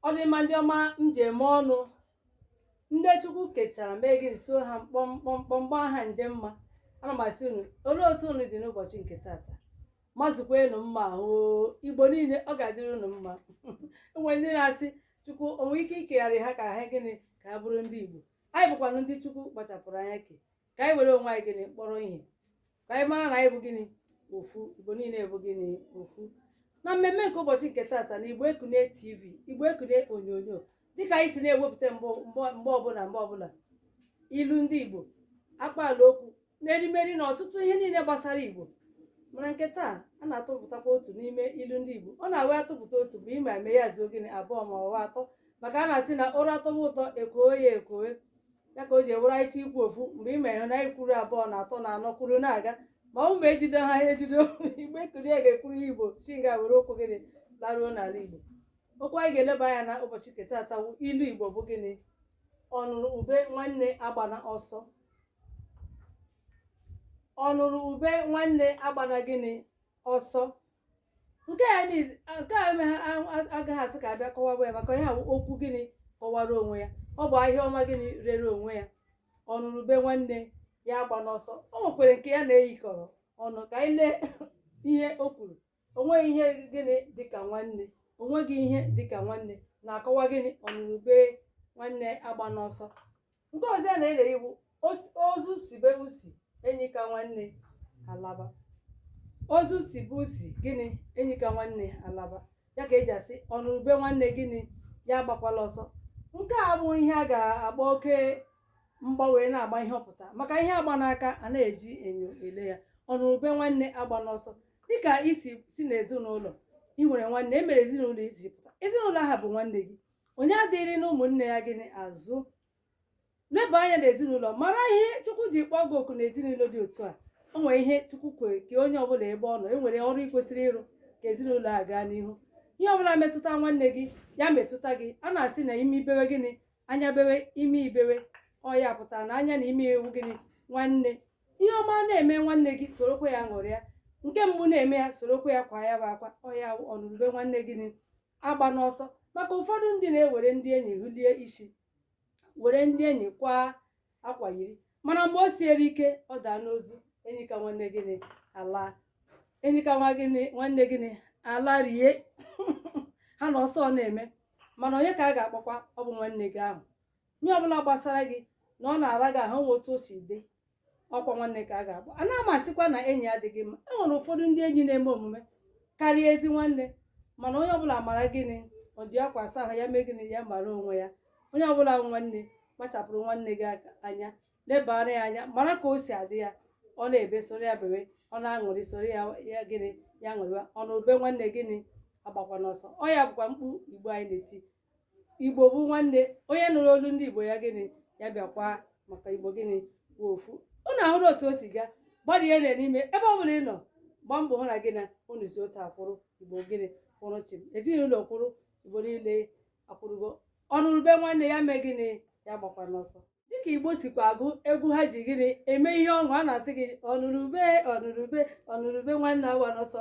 ọ dị mma ndị ọma m ji eme ọnụ ndị chukwu kechara mee gịnị so ha mkpọmkpọmkpọm gbaa ha nje mma ana m asị unu olee otu unu dị n'ụbọchị nke taata mazukwanụ mma ahụ igbo niile ọ ga-adịrị unu mma e nwere ndị na-asị chukwu o nwee ike ikegharị ha ka ha gịnị ka ha bụrụ ndị igbo anyị bụkwanụ ndị chukwu kpachapụrụ anya kee ka anyị were onwe anyị gịnị kpọrọ ihe ka anyị mara na anyị bụ gịnị ofu igbo niile bụ gịnị ofu na mmemme nke ụbọchị nke taata na igbo ekunie tv igbo ekunie onyonyo dịka anyị si na-ewepụta mbụ mbọ- mgbe ọbụla mgbe ọbụla ilu ndị igbo akpaala okwu na erimeri na ọtụtụ ihe niile gbasara igbo mana nke taa a na-atụpụtakwa otu n'ime ilu ndị igbo ọ na-awụ a tụpụta otu bụ ime eme ya zuo gịnị abụọ ma ọ wụ atọ maka a na-asị na ụra atọwa ụtọ e kwowe ya ekwowe ya ka o ji wụrụ anyị chọọ ikwu ofu mgbe ị ma ị hụ na anyị kwuru abụọ na atọ na anọ kwuru na-aga ma ọ ma e jide ha ejide igbo ekunie ga-ekwuru ya igbo chinga were okwu gịnị laruo n'ala igbo okwu anyị ga-eleba anya na ụbọchị nke taata wụ ilu igbo bụ gịnị ọnụrụ ube nwanne agbana ọsọ ọnụrụ ube nwanne agbana gịnị ọsọ nke a agaghị asị ka a bịa kọwaba ya maka ihe a bụ okwu gịnị kọwara onwe ya ọ bụ ahịa ọma gịnị rere onwe ya ọnụrụ ube nwanne ya agbana ọsọ o nwekwere nke ya na-eyikọrọ ọnụ ka anyị lee ihe o kwuru o nweghị ihe gịnị dịka nwanne o nweghị ihe dịka nwanne na-akọwa gịnị ọnụrụ ube nwanne agbana ọsọ nke ọzọ ya na-eyi wụ os- ozu sibe usi enyi ka nwanne alaba ozu sibe usi gịnị enyi ka nwanne alaba ya ka eji asị ọnụrụ ube nwanne gịnị ya agbakwala ọsọ nke a bụ ihe a ga-agba oke mgba wee na-agba ihe ọ pụta maka ihe a gba n'aka anaghị eji enyo ele ya ọnụrụ ube nwanne agbana ọsọ dịka i si si n'ezinụlọ i nwere nwanne e nwere ezinụlọ i si pụta ezinụlọ ahụ bụ nwanne gị onye adịghịrị na ụmụnne ya gịnị azụ leba anya n'ezinụlọ mara ihe chukwu ji kpọọ gị oku n'ezinụlọ dị otu a o nwere ihe chukwu kwere ka onye ọbụla ebe ọ nọ e nwere ọrụ ị kwesịrị ịrụ ka ezinụlọ a gaa n'ihu ihe ọbụla metụta nwanne gị ya metụta gị a na-asị na imi bewe gịnị anya bewe imi ebewe ọ ya pụtara na anya na imi wụ gịnị nwanne ihe ọma na-eme nwanne gị sorokwa ya ṅụrịa nke mgbu na-eme ya sorokwa ya kwaa ya bụ akwa ọ ya bụ ọnụrụ ube nwanne gịnị agbana ọsọ maka ụfọdụ ndị na-ewere ndị enyi hulie isi were ndị enyi kwaa akwa yiri mana mgbe o siere ike ọ daa n'ozu enyi ka nwanne gịnị ala enyi ka nwa gịnị nwanne gịnị ala rie ha na ọsọ ọ na-eme mana onye ka a ga-akpọkwa ọ bụ nwanne gị ahụ onye ọbụla gbasara gị na ọ na-ara gị ahụ nwe otu o si dị ọkwa nwanne ka a ga-akpọ ana m asịkwa na enyi adịghị mma e nwere ụfọdụ ndị enyi na-eme omume karịa ezi nwanne mana onye ọbụla mara gịnị o ji akwa asa ahụ ya mee gịnị ya mara onwe ya onye ọbụla bụ nwanne kpachapụrụ nwanne gị aka anya lebara ya anya mara ka o si adị ya ọ na-ebe soro ya bebe ọ na-aṅụrị soro ya ya gịnị ya ṅụrịwa ọnụrụ ube nwanne gịnị agbakwana ọsọ ọ ya bụkwa mkpu igbo anyị na-eti igbo bụ nwanne onye nụrụ olu ndị igbo ya gịnị ya bịakwa maka igbo gịnị bụ ofu unu ahụrụ otu o si gaa gbalịa na n'ime ebe ọ bụla ị nọ gbaa mbọ hụ na gị na unu si otu akwụrụ igbo gịnị kwụrụ chịm ezinụlọ kwụrụ igbo niile akwụrụgo ọnụrụ ube nwanne ya mee gịnị ya agbakwana ọsọ dịka igbo sikwa agụ egwu ha ji gịnị eme ihe ọṅụ a na-asị gị ọnụrụ ube ọnụrụ ube ọnụrụ ube nwanne agbana ọsọ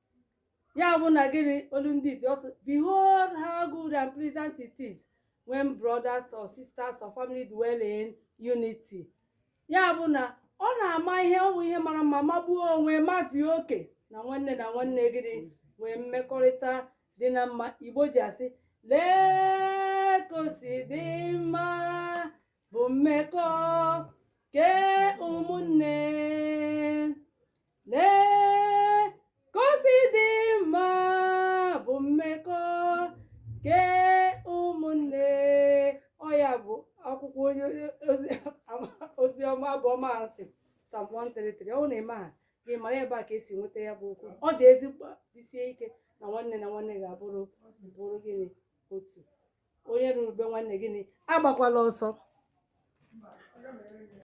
ya bụ na gịnị olu ndị dị ụsọ behold how good and pleasant it is when brothers or sisters or family dwell in unity ya bụ na ọ na-ama ihe ọ bụ ihe mara mma magbuo onwe mabie oke na nwanne na nwanne gịnị nwee mmekọrịta dị na mma igbo ji asị lee ka o si dị mma bụ mmekọ kee ụmụnne lee ka o si dị mma bụ mmekọ nke ụmụnne ọ ya bụ akwụkwọ onye ozi ozi ọma abụ ọma a sị psalm 133 ọ bụ na ị maghị gị mara ebe a ka e si nweta ya bụ okwu ọ dị ezigbo jisie ike na nwanne na nwanne ga-abụrụ bụrụ gịnị otu onye nụrụ ube nwanne gịnị agbakwala ọsọ